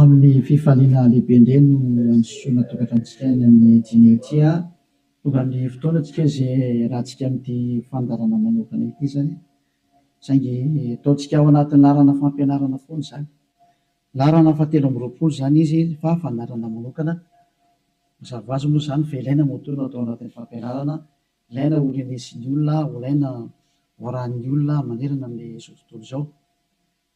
Amin'ny fifaliana lehibe indray no androsoana tokantranontsika any amin'ny dîner ity a! Tonga ny fotoana antsika izay hiarahantsika amin'ity fandaharana manokana ity izany, saingy ataontsika ao anatin'ny laharana fampianarana foana izany. Laharana fahatelo amby roapolo izany izy fa fandaharana manokana. Mazava ho azy moa izany fa ilaina moa toa no atao anatin'ny fampianarana, ilaina ho renesin'ny olona, ho ilaina ho arahin'ny olona manerana amin'izao tontolo izao.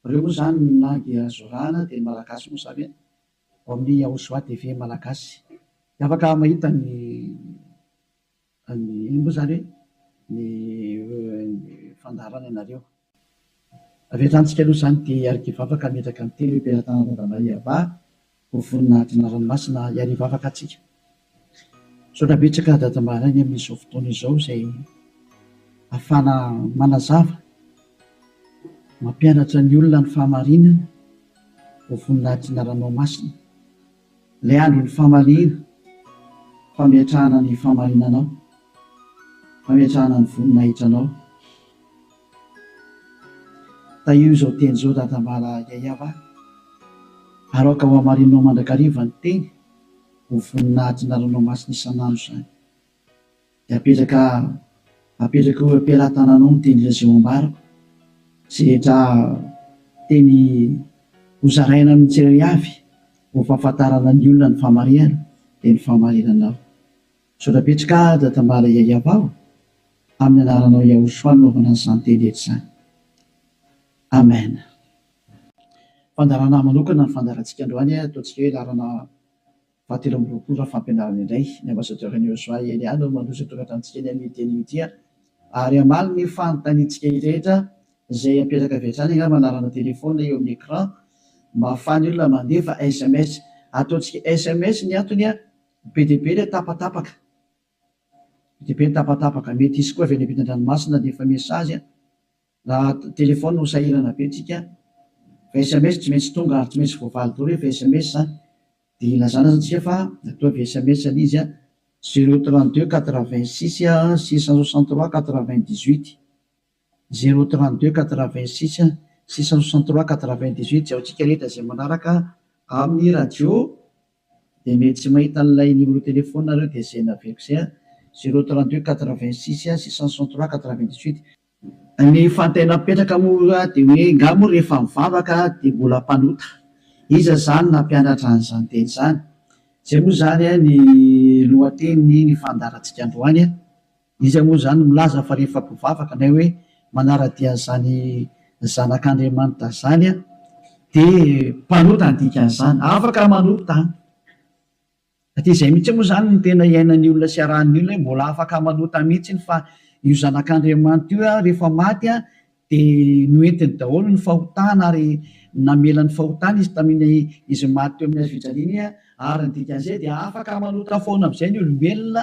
Reo moa zany na dia zorana dia ny malagasy moa zany e! Ao amin'ny Yahoshua TV malagasy dia afaka mahita ny ny moa zany hoe ny fandaharana anareo. Avy hatrany tsika aloha zany dia hiarikivavaka hametraka ny teny hoe Mpiara-tanan-dRadanaiabah Ho vonona hadina ranomasina hiary hivavaka atsika. Misaotra betsaka Dada Mbaraigny amin'izao fotoana izao izay afahana manazava, mampianatra ny olona ny fahamarinana. Ho vonona hadina ranomasina. Ilay andron'ny famaliana, fametrahana ny fahamarinanao, fametrahana ny voninahitranao. Tahio izao teny izao dadambala Yaya va? Aroaka ho hamarininao mandrakariva ny teny ho vonona hatina ranomasina isan'andro izany. Dia apetraka apetraka eo am-pelatananao ny teny Lazao ambarako izay rehetra teny hozaraina amin'ny tsirairavy ho fahafantarana ny olona ny fahamarihana dia ny fahamarinanao. Misaotra betsaka Dada Tambala Yayabao amin'ny anaranao Yahoshua nanaovana an'izany teny rehetra izany. Amen. Fandaharana manokana ny fandaharantsika androany a, ataontsika hoe laharana fahatelo amby roapolo raha fampianarana indray. Ny Ambassadeur-n'i Yosua Elia no mandroso an-toratra amintsika ny amin'ity anio ity a. Ary hamaly ny fanontaniantsika rehetra izay apetraka avy hatrany angamba anarana téléphone eo amin'ny écran mba ahafahan'ny olona mandefa sms. Ataontsika sms ny antony a. Be dia be ilay tapatapaka. Be dia be ny tapatapaka. Mety hisy koa avy any ampitan-dranomasina dia efa message a. Raha telefaonina no sahirana be tsika fa sms tsy maintsy tonga ary tsy maintsy voavaly daholo rehefa sms a. Dia ilazana aza tsika fa ataovy sms ilay izy a. Zero trente deux quatre vingt six six cent soixante trois quatre vingt dix huit. Zéro trente deux quatre vingt six six cent soixante trois quatre vingt dix huit Jaontsika rehetra izay manaraka amin'ny radio dia mety tsy mahita an'ilay numéro téléphone nareo dia izay naveriko izay an! Zéro trente deux quatre vingt six six cent soixante trois quatre vingt dix huit. Ny fantay napetraka moa dia hoe nga moa rehefa mivavaka dia mbola mpanota? Iza izany nampianatra an'izany teny izany? Izay moa izany ny lohatenin'ny fandaharantsika androany an! Iza moa izany milaza fa rehefa mpivavaka na hoe manara-dia an'izany Zanak'Andriamanitra izany dia mpanota ny dikan'izany? Afaka manota an! Dia izay mihitsy moa izany no tena iainan'ny olona sy iarahan'ny olona hoe mbola afaka manota mihitsy fa io Zanak'Andriamanitra io rehefa maty dia noentiny daholo ny fahotana ary namela ny fahotana izy tamin'ny izy maty teo amin'ny hazofijaliana ary ny dikan'izay dia afaka manota foana amin'izay ny olombelona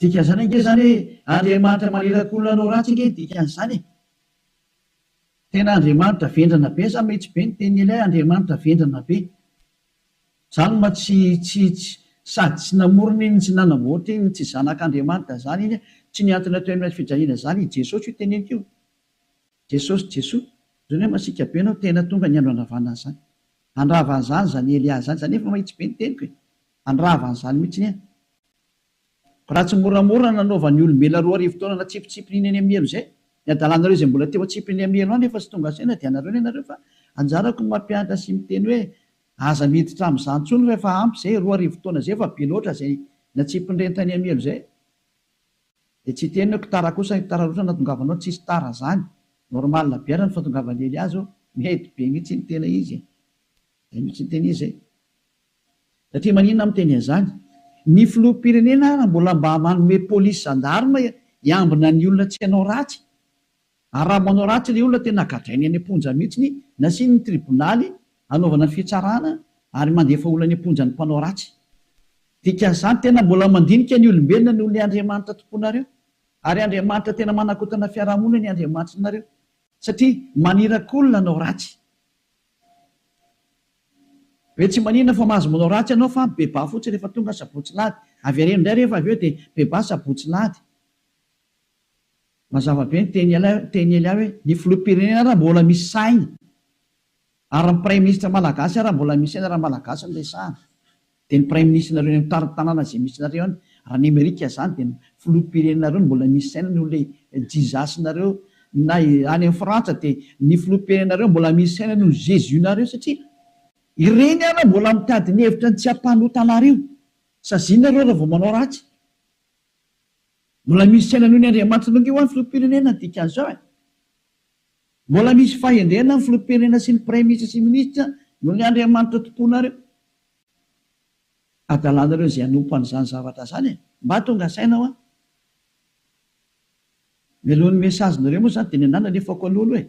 Dikan'izany ange izany hoe Andriamanitra maniraka olona hanao ratsy ange ny dikan'izany e! Tena Andriamanitra vendrana be sa mety be ny tenin'i Eliah Andriamanitra vendrana be? Zany ma tsy tsy tsy sady tsy namorona iny tsy nanamboatra iny tsy zanak'Andriamanitra zany iny a! Tsy ny antony atao eny fijaliana zany i Jesosy io teneniko io. Jesosy Jesoa zany hoe masiaka be anao tena tonga ny andro handravanana zany. Handrava an'zany zany Eliah zany zany efa mahitsy be ny teniko e! Handrava an'zany mihitsy anie. Raha tsy moramora nanaovan'ny olombelona roa arivo taona natsipitsipin'iny any amielo izay, ny hadalanareo izay mbola teo atsipin'ny amielo any efa tsy tonga saina dia anareo ny anareo fa anjarako ny mampianatra sy miteny hoe aza miditra amin'izany intsony fa efa ampy izay, roa arivo taona izay efa be loatra izay natsipin'ireny tany amielo izay dia tsy teniko, tara kosa ny tara loatra natongavanao, tsisy tara izany, normal be ary ny fatongavan'i Elias ô, mety be mihitsy ny tena izy e, izay mihitsy ny tena izy e. Satria maninona aho miteny an'izany? Ny filoham-pirenena ary mbola mba manome polisy zandarma hiambina ny olona tsy hanao ratsy. Ary raha manao ratsy ilay olona tena gadrainy any am-ponja mihitsy, nasiany ny tribonaly hanaovana fitsarana ary mandefa olona any am-ponja ny mpanao ratsy. Dikan'izany tena mbola mandinika ny olombelona noho ny Andriamanitra tompoinareo. Ary Andriamanitra tena manakotana fiarahamonina ny Andriamanitrnareo. Satria maniraky olona hanao ratsy. Ve tsy maninona fa mahazo manao ratsy ianao fa bebà fotsiny rehefa tonga sabotsy lahady. Avereno indray rehefa avy eo dia bebà sabotsy lahady. Mazava be ny tehin'i Elia hoe ny filoham-pirenena ary mbola misy sahiny ary ny praiminisitra malagasy ary mbola misy saina raha malagasy no resahana. Dia ny praiminisitra-nareo eny amin'ny tany tanàna izay misy anareo any, raha ny Amerika izany dia ny filoham-pirenenareo no mbola misy saina noho ilay Jesus-nareo, na any amin'ny Frantsa dia ny filoham-pirenenareo mbola misy saina noho ny Jesus-nareo satria ireny ary mbola mitady ny hevitra ny tsy hampanota anareo, saziana nareo raha vao manao ratsy. Mbola misy saina noho ny Andriamanitra longo io any filoham-pirenena dikan'izao e! Mbola misy fahendrena ny filoham-pirenena sy ny praiminisitra sy ny minisitra noho ny Andriamanitra tomponareo. adalanareo izay hanompo an'izany zavatra izany e! Mba tonga saina hoa! Mialohan'ny message nareo moa zany dia nenà nalefako an'olo hoe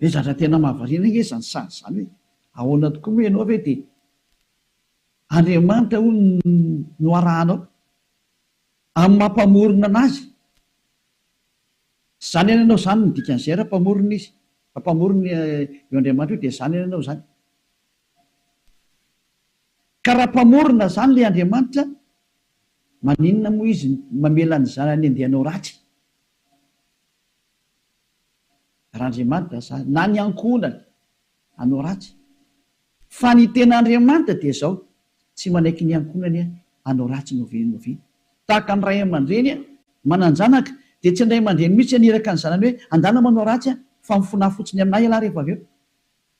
hoe zatra tena mahavariana ange izany sazy izany hoe ahoana tokoa moa ianao ve dia Andriamanitra hono no arahanao amin'ny maha mpamorona anazy zany any ianao zany ny dikan'izay raha mpamorona izy raha mpamorona io Andriamanitra io dia zany any ianao zany Ka raha mpamorona izany ilay Andriamanitra, maninona moa Izy mamela ny zanany handeha hanao ratsy? Raha Andriamanitra za, na ny ankohonany hanao ratsy. Fa ny tena Andriamanitra dia izao, tsy manaiky ny ankohonany hanao ratsy na oviana na oviana. Tahaka ny ray aman-dreny manan-janaka, dia tsy ny ray aman-dreny mihitsy haniraka ny zanany hoe andana manao ratsy fa mifonaha fotsiny amin'ahy ialahy rehefa avy eo.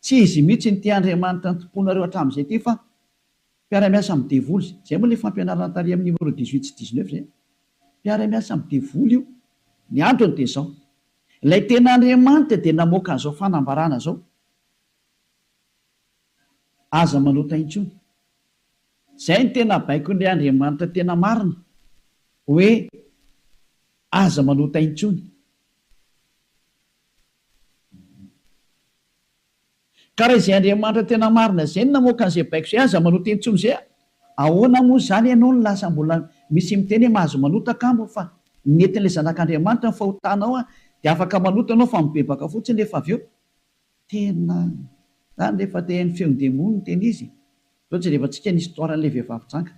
Tsy izy mihitsy no tia Andriamanitra ny tompoinareo hatramin'izay ity fa mpiara-miasa amin'ny devoly izay. Izay moa ilay fampianarana tary amin'ny numéro dix huit sy dix neuf izay. Mpiara-miasa amin'ny devoly io. Ny antony dia izao. Ilay tena Andriamanitra dia namoaka an'izao fanambarana izao, Aza manota intsony. Izay no tena baikon'ilay Andriamanitra tena marina, hoe aza manota intsony. Ka raha izay Andriamanitra tena marina izay no namoaka an'izay baiko izay, aza manota intsony izay a! Ahoana moa izany ianao no lasa mbola misy miteny hoe mahazo manota kamo fa netin'ilay Zanak'Andriamanitra ny fahotanao a! Dia afaka manota ianao fa mibebaka fotsiny rehefa avy eo. Tena izany rehefa te haino feon'ny demony ny tena izy e! Izao jerevantsika ny histoire an'ilay vehivavy janga.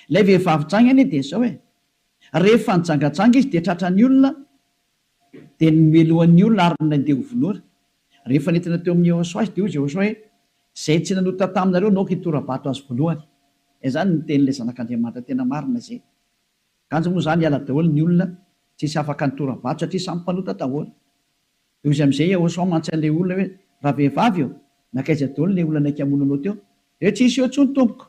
Ilay vehivavy janga anie dia izao e! Rehefa nijangajanga izy dia tratran'ny olona, Dia nomelohan' ny olona ary nandeha ho vonoina. Rehefa nentina teo amin' i Jehosoa azy, dia hoy Jehosoa hoe, Izay tsy nanota taminareo naoka hitora-bato azy voalohany. Dia izany no nitenin' ilay Zanak' Andriamanitra tena marina izay. Kanjo moa izany hiala daholo ny olona tsy hisy afaka nitora-bato satria samy mpanota daholo. Dia hoy izy amin' izay Jehosoa mantsy an' ilay olona hoe, Ravehivavy ô, nankaiza daholo ilay olona naika hamono anao teo? Dia hoe, Tsy nisy eo intsony, tompoko.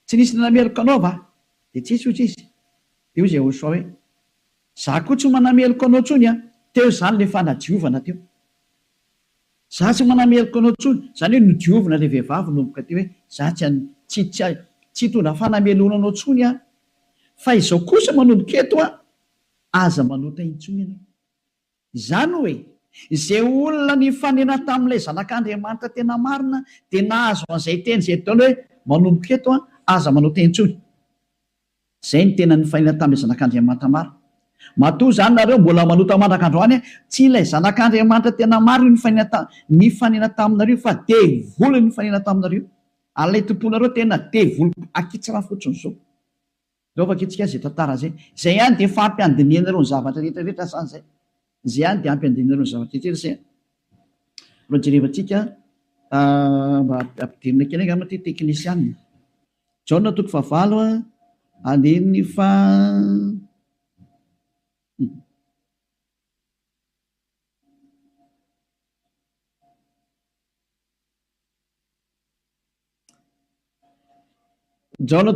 Tsy nisy nanameloka anao va? Dia tsy nisy, hoy izy. Dia hoy Jehosoa hoe, Za koa tsy manameloka anao tsony an! Teo izany le fanadiovana teo. Za tsy manameloka anao tsony, zany hoe nodiovina le vehivavy nomboka teo hoe za tsy an, tsy, tsy, tsy hitondra fanameloana anao tsony aho. Fa izao kosa manomboka eto an, aza manota intsony ianao. Izany hoe, izay olona nifanena tamin'ilay zanak'Andriamanitra tena marina dia nahazo an'izay teny izay daholo hoe manomboka eto an, aza manota intsony. Izay no tena nifainany tamin'ilay Zanak'Andriamanitra maro. Matoa izany nareo mbola manota mandraka androany an! Tsy ilay Zanak'Andriamanitra tena maro io nifainana nifanena taminareo io fa devoly nifanena taminareo io. Ary ilay tomponareo tena devoly ankitsirano fotsiny izao. Ireo vakitsika izay tantara izay. Izay ihany dia efa ampiandinihanareo ny zavatra rehetra rehetra sa izay? Izay ihany dia ampiandinihanareo ny zavatra rehetra rehetra sa? Jereva tsika mba ampidirina kely angamba ity teknisianina. Jaona toko fahavalo andininy faha-Jaona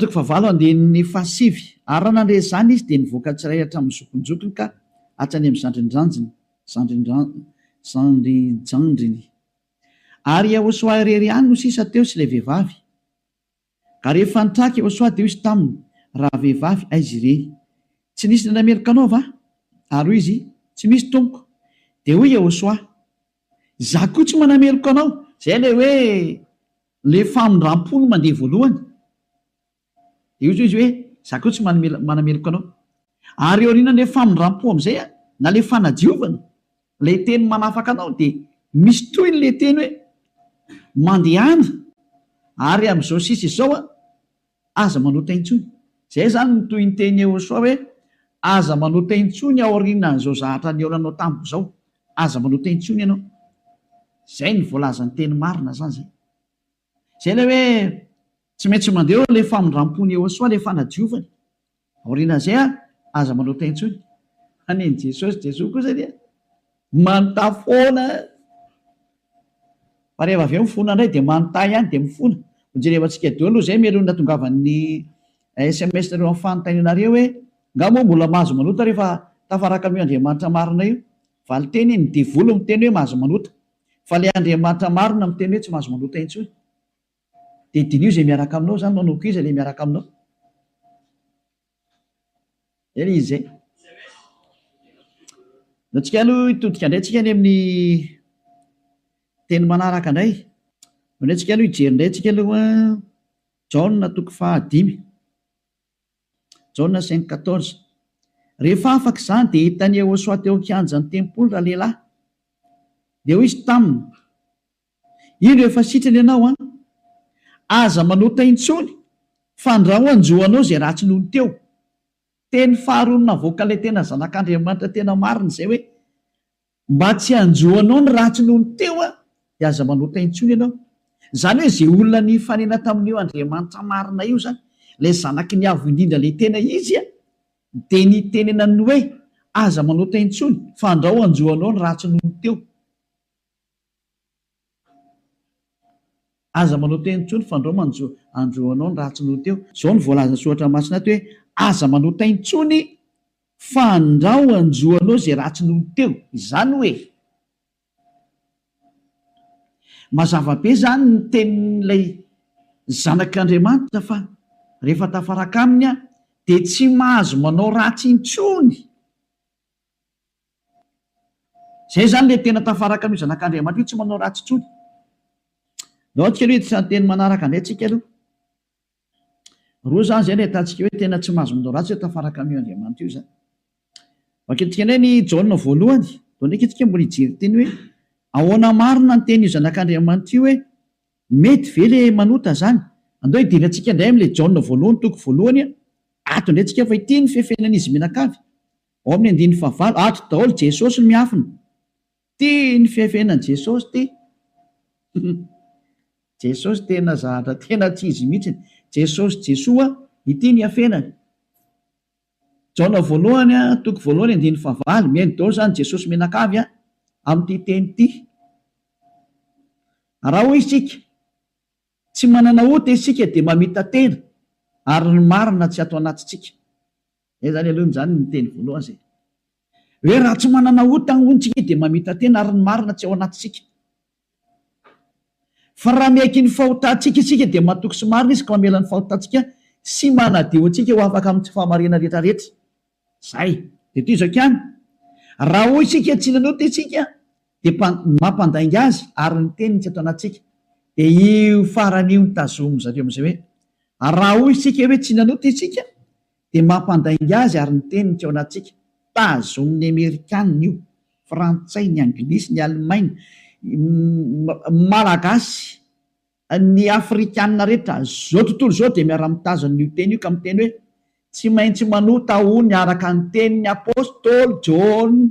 toko fahavalo andininy fahasivy Ary raha nandre izany izy, dia nivoaka tsirairay hatramin'ny zokinjokiny ka hatrany amin'ny zandrindrandriny, zandrindrandriny, zandrijandriny. Ary Iahosoa irery ihany no sisa teo sy ilay vehivavy. Ary rehefa nitraka i Ôsoa dia hoy izy taminy, Ravehivavy, aiza ireny? Tsy nisy nandray meloka anao va? Ary hoy izy, Tsy misy, tompoko. Dia hoy i Ôsoa, Izaho koa tsy manameloka anao. Izay ilay hoe ilay famindram-po no mandeha voalohany. Dia hoy izy hoe, Izaho koa tsy manameloka anao. Ary aorianan'ilay famindram-po amin'izay, na ilay fanadiovana, Ilay teny manafaka anao dia misy tohiny ilay teny hoe mandehana ary amin'izao sisa izao an, aza manota intsony. Izay izany no tohin'ny tenin'i Yehosua hoe aza manota intsony aorianan'izao zahatra nihaona anao tamiko izao. Aza manota intsony ianao. Izay no voalazan'ny teny marina izany izay. Izay ilay hoe tsy maintsy mandeha eo ilay famindrampony Iehosoa ilay fanadiovany. Aorianan'izay ary aza manota intsony. Hanin'i Jesosy, Jesoa kosa dia manontà foana. Fa rehefa avy eo mifona indray dia manontà ihany dia mifona. Ho jerevantsika eo aloha izay melohin'ny natongavan'ny sms nareo amin'ny fanontaniana re hoe nga moa mbola mahazo manota rehefa tafaraka amin'io Andriamanitra marina io. Valinteny, ny devoly miteny hoe mahazo manota. Fa ilay Andriamanitra marina miteny hoe tsy mahazo manota intsony. Dia diniho izay miaraka aminao izany, manao koa iza ilay miaraka aminao. Dia ilay izy izay. Dia antsika aloha hitodika indray antsika any amin'ny teny manaraka indray. Indray antsika aloha hijery indray antsika aloha Jaona toko fahadimy. Jaona cinq quatorze. Rehefa afaka izany dia hitan'i Iehosoa teo an-kianjan'ny tempoly ralehilahy. Dia hoy izy taminy, Indro efa sitrana ianao an! Aza manota intsony, fandrao hanjo anao izay ratsy nony teo. Teny faharoa navoakan'ilay tena Zanak'Andriamanitra tena marina izay hoe, Mba tsy hanjoanao ny ratsy noho ny teo aho, dia aza manota intsony ianao. Izany hoe izay olona nifanena tamin'io Andriamanitra marina io izany, ilay Zanaky ny Avo Indrindra ilay tena izy, dia nitenenany hoe, Aza manota intsony, fa andrao hanjoanao ny ratsy noho ny teo. Aza manao teny intsony fa ndrao manjo andro anao ny ratsy noho teo. Izao no voalazan'ny soratra masina ato hoe, Aza manao teny intsony fa ndrao hanjo anao izay ratsy noho teo. Izany hoe, mazava be izany ny tenin'ilay zanak'Andriamanitra fa rehefa tafaraka aminy aho dia tsy mahazo manao ratsy intsony. Izay izany ilay tena tafaraka amin'io Zanak'Andriamanitra io, tsy manao ratsy intsony. Andao isika aloha hiditra ny teny manaraka indray isika aloha. Roa izany izay no ahitantsika hoe tena tsy mahazo manao ratsy izay tafaraka amin'io Andriamanitra io izany. Vakintsika indray ny Jaona voalohany, dia ndraika isika mbola hijery teny hoe ahoana marina ny tenin'io Zanak'Andriamanitra io hoe mety ve ilay manota izany. Andao hidera antsika indray amin'ilay Jaona voalohany, toko voalohany, ato indray isika fa ity ny fefenan'izy mianakavy. Ao amin'ny andininy fahavalo, ato daholo Jesosy no miafina. Tia ny fihafenany Jesosy ty. Jesosy tena zahatra tena tsy izy mihitsy. Jesosy Jesoa ity ny hafenany. Jaona voalohany a, toko voalohany andininy fahavalo, mihaino daholo zany Jesosy mianakavy a, amin'ity teny ty. Raha hoy isika, tsy manana ota isika dia mamita-tena ary ny marina tsy ato anatintsika. Zay zany aloha zany ny teny voalohany zay. Hoe raha tsy manana ota hono tsika dia mamita-tena ary ny marina tsy ao anatintsika. Fa raha miaiky ny fahotantsika isika dia matoky sy marina Izy ka mamela ny fahotantsika sy manadio antsika ho afaka amin'ny tsy fahamariana rehetrarehetra. Zay. Dia toy izao ihany, raha hoy isika tsy nanota isika dia mpa, mampandainga Azy ary ny Teniny tsy ato anatintsika. Dia io farany io no tazomin-dry zareo amin'izay hoe, raha hoy isika hoe tsy nanota isika Dia mampandainga azy ary ny teniny teo anatintsika. Tazonin'ny Amerikana io, Frantsay, ny Anglisy, ny Alemaina, ny Malagasy, ny Afrikana rehetra izao tontolo izao dia miara-mitazona an'io teny io ka miteny hoe, Tsy maintsy manota aho ny araka ny tenin'ny Apostoly Jaona.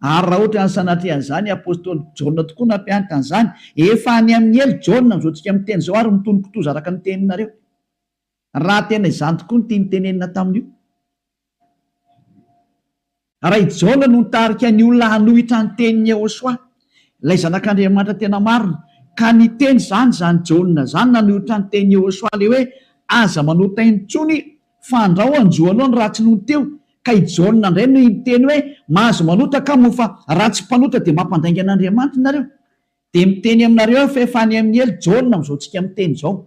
Ary raha ohatran'ny sanatria an'izany i Apostoly Jaona tokoa nampianatra an'izany, efa any amin'ny helo Jaona amin'izao tsika miteny izao ary mitonon-kitoza araka ny teninareo. Raha tena izany tokoa ny tiany tenenina tamin'io, raha i Jaona no nitarika ny olona hanohitra ny tenin'i Yehosua, ilay Zanak'Andriamanitra tena marina, ka niteny izany izany Jaona izany nanohitra ny tenin'i Yehosua ilay hoe, Aza manota aina intsony, fa andrao hanjo anao ny ratsy nony teo. Ka i Jaona indray no niteny hoe, Mahazo manota ka moa, fa raha tsy mpanota dia mampandainga an'Andriamanitra nareo. Dia miteny aminareo aho fa efa any amin'ny helo Jaona amin'izao tsika miteny izao.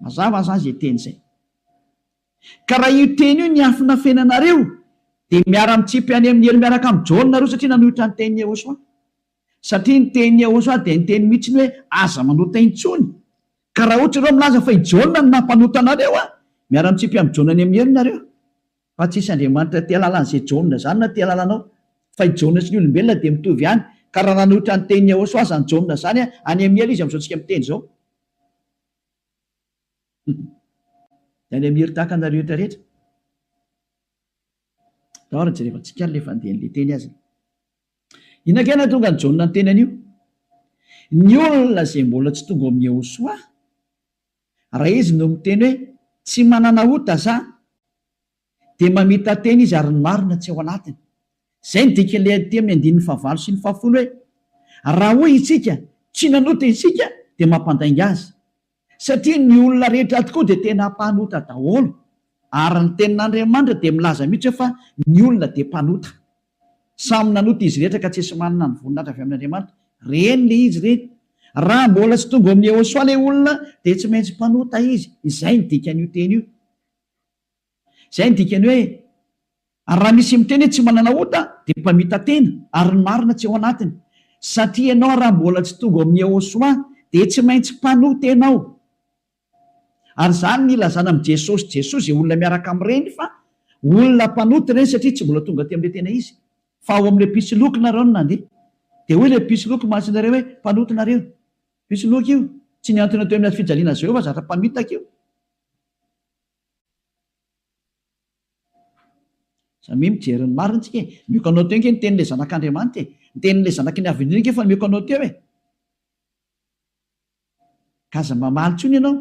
Mazava aza izay teny izay. Ka raha io teny io niafina feno anareo dia miara mitsipy any amin'ny helo miaraka amin'i Jaona nareo satria nanohitra ny tenin'i Yehosua. Satria ny tenin'i Yehosua dia niteny mihitsy ny hoe aza manota intsony. Ka raha ohatra ireo milaza fa i Jaona no nampanota anareo an! miara mitsipy amin'i Jaona any amin'ny helo nareo. Fa tsy hisy Andriamanitra tia alalan'izay Jaona izany na tia alalanao. Fa i Jaona sy ny olombelona dia mitovy ihany. Ka raha nanohitra ny tenin'i Yehosua aza ny Jaona izany an! any amin'ny helo izy amin'izao tsika miteny izao. Any Amir tahaka anareo rehetra rehetra. Tao ary jerevantsika ary le fandehan'ny le teny azy. Inona kay nahatonga an'i Jaona niteny an'io? Ny olona izay mbola tsy tonga ao amin'i Yehosoa, raha izy no miteny hoe tsy manana ota za, dia mamita-tena izy ary ny marina tsy ao anatiny. Izay no dikan'ilay adity amin'ny andininy fahavalo sy ny fahafolo hoe, Raha hoy isika, Tsy nanota isika, dia mampandainga azy. Satria ny olona rehetra tokoa dia tena mpanota daholo. Ary ny Tenin'Andriamanitra dia milaza mihitsy hoe fa ny olona dia mpanota. Samy nanota izy rehetra ka tsisy manana ny voninahitra avy amin'Andriamanitra. Reny le izy reny. Raha mbola tsy tonga ao amin'i Yehosoa le olona dia tsy maintsy mpanota izy. Izay no dikan'io teny io. Izay no dikany hoe raha misy miteny hoe tsy manana ota dia mpamita-tena ary ny marina tsy ao anatiny. Satria ianao raha mbola tsy tonga ao amin'ny Yehosua dia tsy maintsy mpanota-tena ao. Ary izany no ilazana amin'i Jesosy Jesoa izay olona miaraka amin'ireny fa olona mpanota ireny satria tsy mbola tonga aty amin'ilay tena izy fa ao amin'ilay mpisoloky nareo no nandeha. Dia hoy ilay mpisoloky mahatsy nareo hoe mpanota nareo. Mpisoloky io. Tsy nihantona teo amin'ny hazofijaliana Jehovah zatra mpamitaka io. Samia mijery ny marina tsika e! Mioko anao teo ange ny tenin'ilay zanak'Andriamanitra e! Ny tenin'ilay zanaky ny Avenir ange efa mioko anao teo e! Ka aza mamaly intsony ianao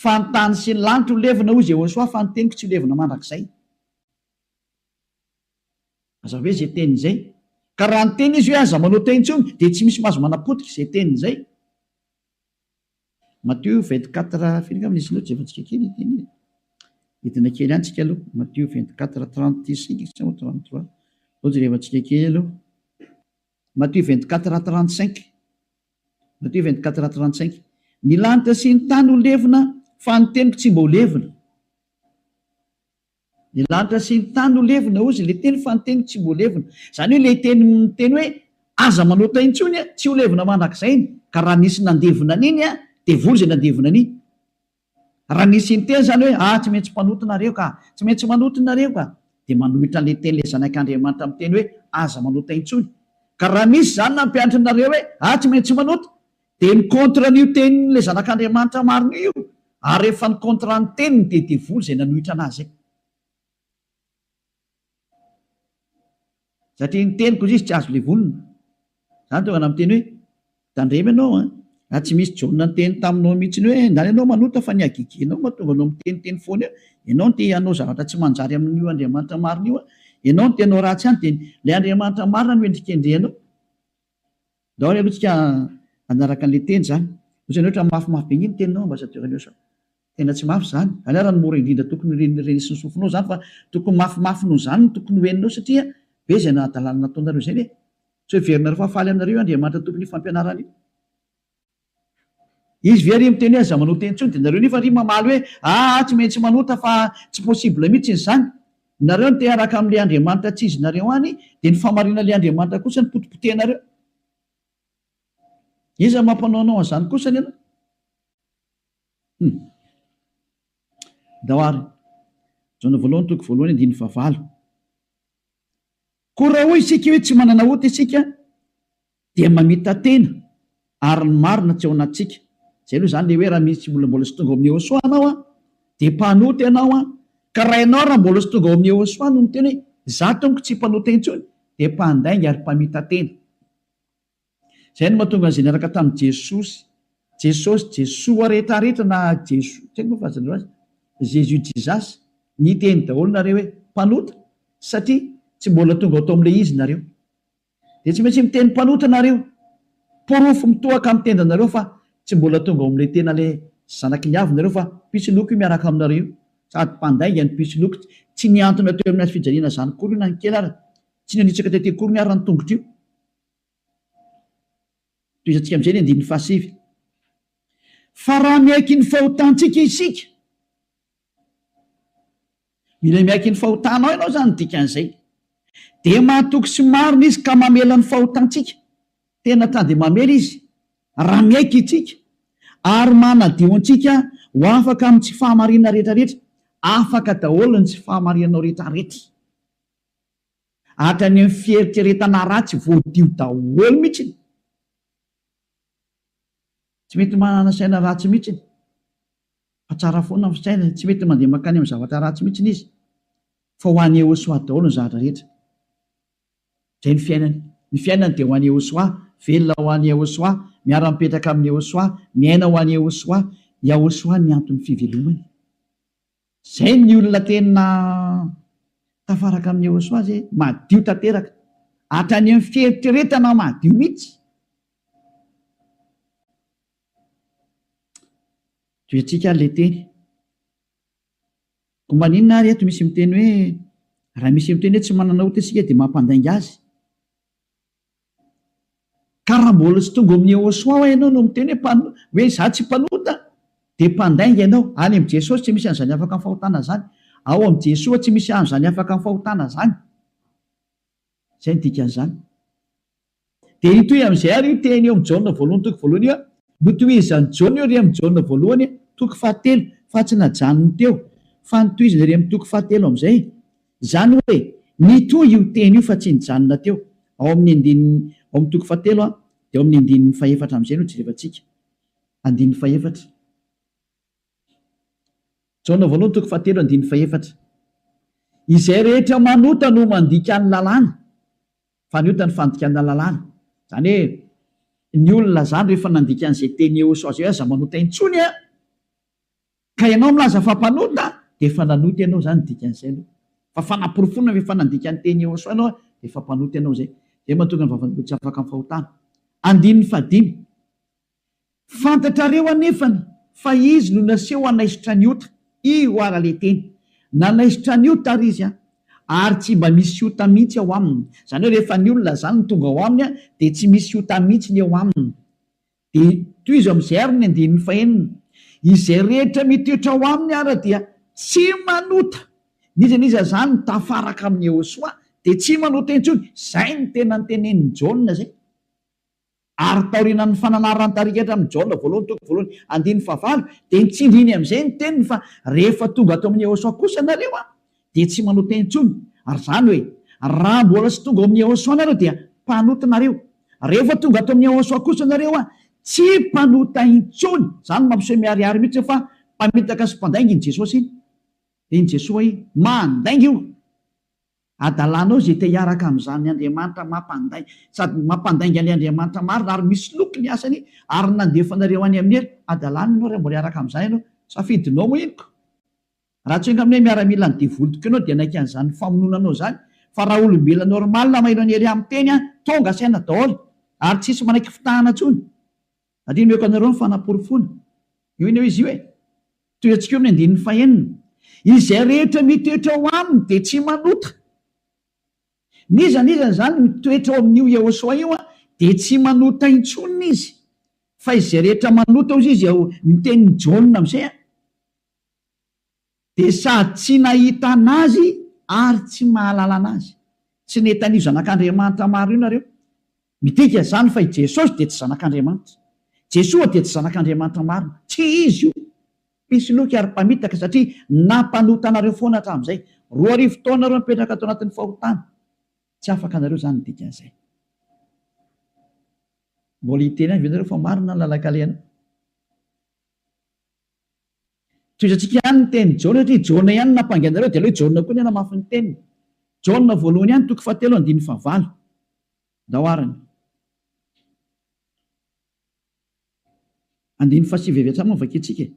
fa ny tany sy ny lanitra ho levona hoy Jehosoa fa ny teniko tsy ho levona mandrakizay. Aza hoe izay teny izay. Ka raha niteny izy hoe aza manao teo intsony dia tsy misy mahazo manapotika izay teny izay. Matthew vingt quatre firy angamba nisy loatra efa tsika kely ity anie entina kely any tsika aloha Matthew vingt quatre trente cinq sa moa trente trois ohatra rehefa tsika kely aloha Matthew vingt quatre trente cinq Matthew vingt quatre trente cinq ny lanitra sy ny tany ho levona fa ny teniko tsy mba ho levona Ny lanitra sy ny tany no levona, hozy ilay teny, fa ny teniko tsy mbo levona. Izany hoe ilay teny miteny hoe, aza manota intsony an, tsy ho levona mandrakizay iny, ka raha nisy nandevona an'iny an, dia vory izay nandevona an'iny. Raha nisy niteny izany hoe, ah, tsy maintsy mpanota nareo ka, tsy maintsy manota nareo ka, dia manohitra an'ilay teny ilay Zanak'Andriamanitra miteny hoe, aza manota intsony. Ka raha misy izany nampianatrinareo hoe, ah, tsy maintsy manota, Dia ny contre an'io tenin'ilay zanak'Andriamanitra marina io, ary rehefa ny contre ny teniny dia devoly izay nanohitra anazy izay. Satria ny teniko hoy izy tsy azo levolina. Izany tonga na miteny hoe, tandremo ianao an, raha tsy misy Jaona niteny taminao mihitsy hoe ndany ianao manota fa ny hagegenao mahatonga anao miteniteny foana eo, ianao no te hanao zavatra tsy manjary amin'io Andriamanitra marina io an, ianao no te hanao ratsy ihany dia ilay Andriamanitra marina no endrikendrehanao. Daholo aloha tsika hanaraka anle teny zany. Otrany hoe otrany mafy mafy be nge ny teninao ambassadeur aleo sao tena tsy mafy zany. Aleo ara ny mora indrindra tokony reny reny sy ny sofinao zany fa tokony mafy mafy noho zany no tokony ho eninao satria be zay nahadalana nataonareo zay ve? Tsy hoe heverinareo fa faly aminareo io Andriamanitra tompon'io fampianarana io. Izy ve ry miteny hoe aza manota intsony dia nareo nefa ry mamaly hoe aa tsy maintsy manota fa tsy possible mitsiny zany. Nareo no te hiaraka amle Andriamanitra tsy izy nareo any dia ny fahamarinanle Andriamanitra kosa no potipotehinareo. Iza mampanaonao anzany kosa ny anao? Hum. Ndao ary. Jaona voalohany toko voalohany andininy fahavalo. Koa raha hoy isika hoe tsy manana ota isika, dia mamita-tena ary ny marina tsy ao anatintsika, izay aloha izany le hoe raha misy olona mbola tsy tonga ao amin'ny Yehosua ianao an, dia mpanota ianao an, ka raha ianao raha mbola tsy tonga ao amin'ny Yehosua no miteny hoe za tompoko tsy mpanota intsony dia mpandainga ary mpamita-tena. Izay no mahatonga an'izay niaraka tamin'i Jesosy, Jesosy, Jesoa rehetra rehetra na Jesoa, tsy haiko moa fa aza andreo azy, Jésus, Jesus, niteny daholo nareo hoe mpanota satria tsy mbola tonga tao amin'ilay izy nareo. Dia tsy maintsy miteny mpanota nareo. Porofo mitohaka amin'ny tendanareo fa tsy mbola tonga ao amin'ilay tena ilay zanaky ny avy nareo fa pitsiloko io miaraka aminareo io. Sady mpandainga ny pitsiloko. Tsy nihantona teo amin'ny hazofijaliana izany akory io na ny kely ary. Tsy nanitsaka tety akory ny ary ny tongotro io. Tohizantsika amin'izay ny andininy fahasivy. Fa raha miaiky ny fahotantsika isika. Mila miaiky ny fahotanao ianao izany no dikan'izay. Dia mahatoky sy marina Izy ka mamela ny fahotantsika. Tena ta dia mamela Izy raha miaiky isika ary manadio antsika ho afaka amin'ny tsy fahamarinana rehetrarehetra. Afaka daholo ny tsy fahamarinanao rehetrarehetra. Hatrany amin'ny fieritreretana ratsy voadio daholo mihitsy. Tsy mety manana saina ratsy mihitsy. fa tsara foana ny fisainany, tsy mety mandeha mankany amin'ny zavatra ratsy mihitsy izy, fa ho an'i Yehosoa daholo ny zavatra rehetra. Izay ny fiainany. Ny fiainany dia ho an'i Yehosoa, velona ho an'i Yehosoa, miara-mipetraka amin'i Yehosoa, miaina ho an'i Yehosoa, Yahosoa ny anton'ny fivelomany. Izay ny olona tena tafaraka amin'i Yehosoa izay, madio tanteraka, hatrany amin'ny fieritreretana madio mihitsy. Toetsika ary ilay teny. Koa maninona ary eto misy miteny hoe raha misy miteny hoe tsy manana ota isika dia mampandainga azy? Ka raha mbola tsy tonga ao amin'ny Yehosoa ho'a ianao no miteny hoe mpan- hoe izaho tsy mpanota dia mpandainga ianao. Any amin'i Jesosy tsy misy an'izany afaka amin'ny fahotana izany. Ao amin'i Jesoa tsy misy an'izany afaka amin'ny fahotana izany. Izay no dikan'izany. Dia hitohy amin'izay àry io teny eo amin'ny Jaona voalohany toko voalohany io, Notohizan'i Jaona io re amin'ny Jaona voalohany toko fahatelo, fa tsy najanony teo, fa notohizany re amin'ny toko fahatelo amin'izay. Izany hoe, nitohy io teny io fa tsy nijanona teo. Ao amin'ny andininy, ao amin'ny toko fahatelo, dia ao amin'ny andininy fahefatra amin'izay no jerevantsika. Andininy fahefatra. Jaona voalohany toko fahatelo andininy fahefatra. Izay rehetra manota no mandika ny lalàna. Fa ny ota ny fandikana lalàna. Izany hoe ny olona izany rehefa nandika an'izay teny eo sao izay hoe aza manota intsony an! Ka ianao milaza fa mpanota dia efa nanota ianao izany ny dikan'izay aloha. Fa fanaporofoana fa efa nandika ny teny eo sao ianao dia efa mpanota ianao izay. Izay mahatonga ny vavan'ny olona tsy afaka amin'ny fahotana. Andininy fahadimy. Fantatrareo anefany fa izy no naseho hanaisotra ny ota, i Hoara le teny. Nanaisotra ny ota ary izy ary tsy mba misy ota mihitsy ao aminy. Izany hoe rehefa ny olona izany no tonga ao aminy dia tsy misy ota mihitsy ny eo aminy. Dia tohizo amin'izay ary ny andininy fahenina, Izay rehetra mitoetra ao aminy ary dia tsy manota. N'iza n'iza izany tafaraka amin'i Yehosoa dia tsy manota intsony. Izay no tena notenenin'i Jaona izay. Ary taorianan'ny fananaran-tarika hatramin'ny Jaona voalohany toko voalohany andininy fahavalo dia nitsindriny amin'izay ny teniny fa rehefa tonga ato amin'i Yehosua kosa nareo an, dia tsy manao teny intsony, ary izany hoe, raha mbola tsy tonga ao amin'i Yehosua nareo dia mpanota nareo, rehefa tonga ato amin'i Yehosua kosa nareo an, tsy mpanota intsony, izany mampiseho miharihary mihitsy io fa mpamitaka sy mpandainga iny Jesosy iny, dia iny Jesoa iny mandainga io. Hadalanao izay te hiaraka amin'izany Andriamanitra mampandainga sady mampandainga ny Andriamanitra marina ary misy loky ny asany ary nandefa anareo any amin'ny helo hadalany ianao raha mbola hiaraka amin'izany ianao safidinao henoko raha tsy enga aminay miaramilan'ny devoly tokoa ianao dia hanaiky an'izany famononanao izany fa raha olombelona normal maheno an'i Hery miteny an tonga saina daholo ary tsisy manaiky fitahana intsony Andinihako anareo ny fanaporofoana. Io anie hoe izy io e. Tohiantsika eo amin'ny andininy fahenina. Izay rehetra mitoetra ao aminy dia tsy manota. N'iza n'iza izany mitoetra ao amin'io Yehoshuah io dia tsy manota intsony izy. Fa izay rehetra manota hozy izy ao ny tenin'i Jaona amin'izay a. Dia sady tsy nahita an'Azy ary tsy mahalala an'Azy. Tsy nety an'io Zanak'Andriamanitra maro io nareo. Midika izany fa i Jesosy dia tsy Zanak'Andriamanitra. Jesoa dia tsy Zanak'Andriamanitra marina. Tsy Izy io. Mpisoloky ary mpamitaka satria nampanota anareo foana hatramin'izay. Roa arivo taona nareo mipetraka ato anatin'ny fahotana. Tsy afaka nareo izany ny dikan'izay. Mbola hiteny ihany ve nareo fa marina ny lalan-kalehana? Tohizantsika ihany ny tenin'i Jaona satria Jaona ihany no nampangy anareo dia aleo Jaona koa ny hanamafy ny teniny. Jaona voalohany ihany toko fahatelo andininy fahavalo. Ndao ary ny. Andininy fahasivy avy hatrany no vakintsika e.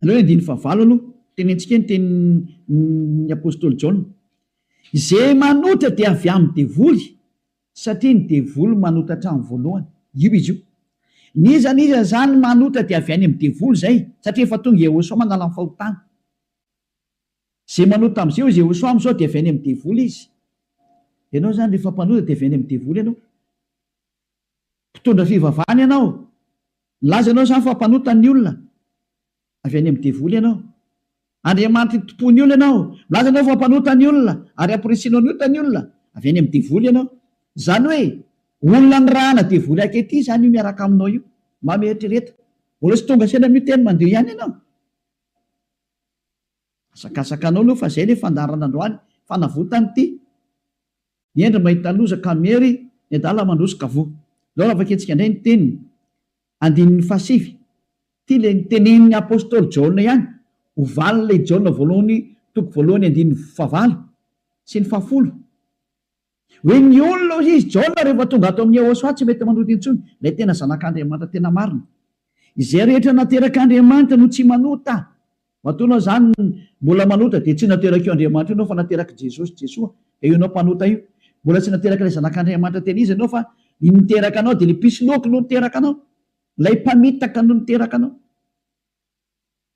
Aleo andininy fahavalo aloha, tenentsika ny tenin'ny apostoly Jaona, Izay manotra dia avy amin'ny devoly, satria ny devoly manota hatramin'ny voalohany. Io izy io. N'iza n'iza izany manotra dia avy any amin'ny devoly izay, satria efa tonga Iehôsoa manala ny fahotana. Izay manota amin'izay hozy Iehôsoa amin'izao dia avy any amin'ny devoly izy. Ianao izany rehefa mpanota dia avy any amin'ny devoly ianao. Mpitondra fivavahana ianao. Nilaza ianao izany fa mpanota ny olona. Avy any amin'ny devoly ianao. Andriamanitra itompo ny olona ianao. Milaza ianao fa mpanota ny olona ary hampirisianao ny ota ny olona. Avy any amin'ny devoly ianao. Izany hoe olona nirahana devoly ankehitriny izany io miaraka aminao io. Mba mieritrereta. Mbola tsy tonga saina amin'io teny mandeha io ihany ianao. Azakazakanao aloha fa zay le fandaharana androany fanavotany ty hendry mahita loza ka miery ny adala mandroso ka voa zao raha vakintsika ndray ny teniny andininy fahasivy ty le nitenenin'ny apostoly jaona ihany ho valin'ilay jaona voalohany toko voalohany andininy fahavalo sy ny fahafolo Hoe ny olona hoy izy, Jaona rehefa tonga ato amin'i Yehosua tsy mety manota intsony, ilay tena Zanak'Andriamanitra tena marina. Izay rehetra naterak'Andriamanitra no tsy manota. Matoana izany mbola manota dia tsy naterak'io Andriamanitra io ianao fa naterak'i Jesosy, Jesoa, dia io ianao mpanota io. Mbola tsy naterak'ilay Zanak'Andriamanitra tena izy ianao fa ny niteraka anao dia ilay mpisoloky no niteraka anao, ilay mpamitaka no niteraka anao.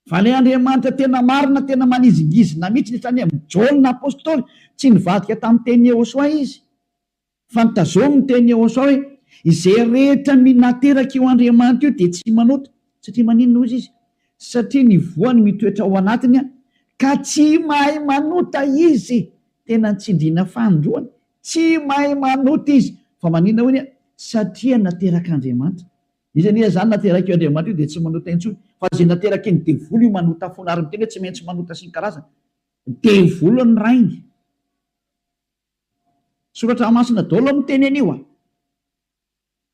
Vale Andriamanitra tena marina tena manizingizina mitsy ny saina Jaona apostoly tsy nivadika tamin'ny teny Yehosoa izy fa nitazomy ny teny Yehosoa hoe izay rehetra minateraka io Andriamanitra io dia tsy manota satria maninona hozy izy satria ny voany mitoetra ao anatiny ka tsy mahay manota izy tena nitsindriana fanindroany tsy mahay manota izy fa maninona hoy satria naterak'Andriamanitra Izy anie izany naterak'io Andriamanitra io dia tsy manota intsony fa izay naterakin'ny devoly io manota foana ary miteny hoe tsy maintsy manota sy ny karazany. Devoly ny rainy. Soratra masina daholo no miteny an'io a!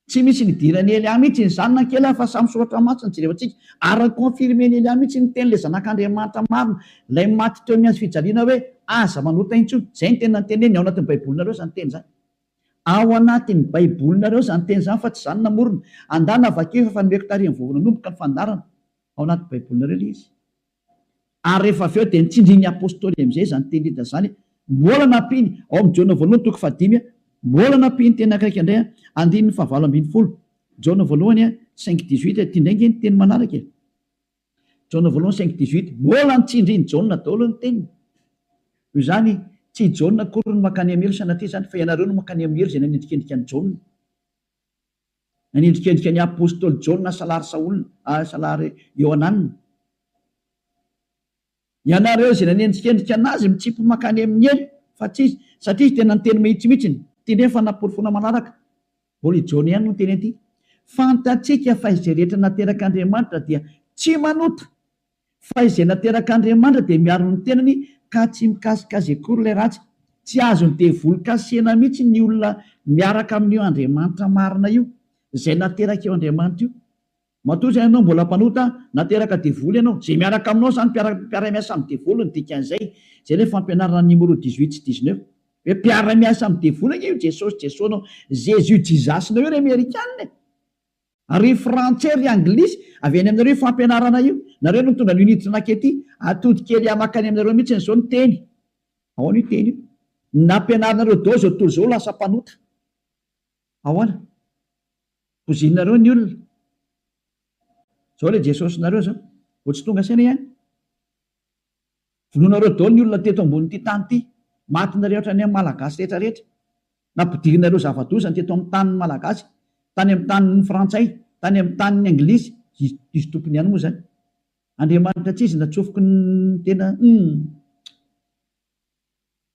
Tsy misy nidiran'i Elia mihitsy iny zanany kely a! Fa samy soratra masina no jerevantsika ary ni-confirmen'i Elia mihitsy ny tenin'ilay zanak'Andriamanitra marina, ilay maty teo amin'ny hazo fijaliana hoe aza manota intsony. Izay no tena niteneniny ao anatin'ny baibolinareo izany teny izany. Ao anatin'ny Baibolinareo izany teny izany fa tsy izaho no namorona. Andana vakio efa efa nomeko tarehin'ny vao nanomboka ny fandaharana. Ao anaty Baibolinareo ilay izy. Ary rehefa avy eo dia nitsindrin'ny Apostoly amin'izay izany teny Lida izany. Mbola nampiany, ao amin'ny Jaona voalohany toko fahadimy, mbola nampiany teny ankaika indray, andininy fahavalo ambin'ny folo, Jaona voalohany cinq dix-huit, ity indray ange ny teny manaraka e. Jaona voalohany cinq dix huit, Mbola ny tsindrin'i Jaona daholo ny teniny. Noho izany, tsy i Jaona akory no mankany amin'ny helo sanatria izany, fa ianareo no mankany amin'ny helo izay nanendrikendrika an'i Jaona. Nanendrikendrika ny apostoly Jaona salary Saola, salary Iohanana. Ianareo izay nanendrikendrika an'azy mitsimpy mankany amin'ny elo fa tsy izy, satria izy tena niteny mahitsy mihitsy ny. Tendreny fa namporofoina manaraka. Mbola i Jaona ihany no niteny an'ity. Fantatsika fa izay rehetra naterak'Andriamanitra dia tsy manota, fa izay naterak'Andriamanitra dia miaro ny tenany ka tsy mikasika azy akory ilay ratsy. Tsy azon'ny devoly kasihina mihitsy ny olona miaraka amin'io Andriamanitra marina io, izay naterak'io Andriamanitra io. Matoa izay ianao mbola mpanota, na teraka devoly ianao, izay miaraka aminao izany mpiara mpiara-miasa amin'ny devoly ny dikan'izay, izay ilay fampianaran'ny Nimoro dix huit sy dix neuf. Hoe mpiara-miasa amin'ny devoly ange io Jesosy Jesosnao, Jésus Jesus-nao io ry Amerikana e! Ary ry Frantsay ry Anglisy, avy any aminareo io fampianarana io, nareo no nitondra an'io niditra nakety, atody kely ahy makany aminareo mihitsiny izao ny teny, ahoana io teny io? ny nampianarinareo dao izao tontolo izao lasa mpanota. Ahoana? Bozinareo ny olona. Zao le Jesosinareo zao. Vao tsy tonga saina ihany. Vonoinareo daholo ny olona teto ambonin'ity tany ity. Maty nareo hatrany amin'ny Malagasy rehetra rehetra. Nampidirinareo zava-doza ny teto amin'ny tanin'ny Malagasy. Tany amin'ny tanin'ny Frantsay, tany amin'ny tanin'ny Anglisy. Izy, izy tompony ihany moa zany. Andriamanitra tsy izy natsofoky ny tena, humm.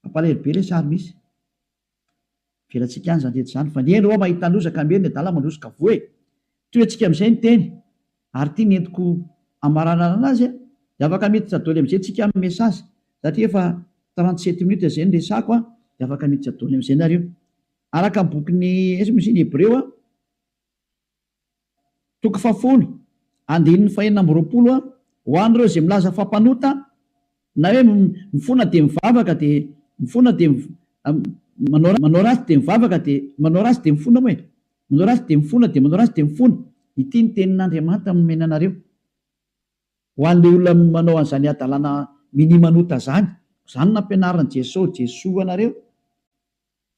Mampalahelo be ilay sary misy. Avelatsika any izany rehetra izany fa ny eny oa mahita loza ka miely ny adala mandroso ka voa e! Toy antsika amin'izay ny teny ary ity nentiko hamaranarana azy a! Dia afaka miditra doly amin'izay tsika amin'ny message satria efa trente sept minutes izay no resako a! Dia afaka miditra doly amin'izay nareo. Araka ny bokin'i, aiza moa izy iny, Hebreo a! Toko fahafolo, andininy fahenina amby roapolo, Ho an'ireo izay milaza fa mpanota, na hoe mifona dia mivavaka dia mifona dia manao manao ratsy dia mivavaka dia manao ratsy dia mifona moa e! manao ratsy dia mifona dia manao ratsy dia mifona, ity ny tenin'Andriamanitra nomena anareo, ho an'ilay olona manao an'izany hadalana minia manota izany, koa izany nampianarin'i Jeso Jesoa anareo,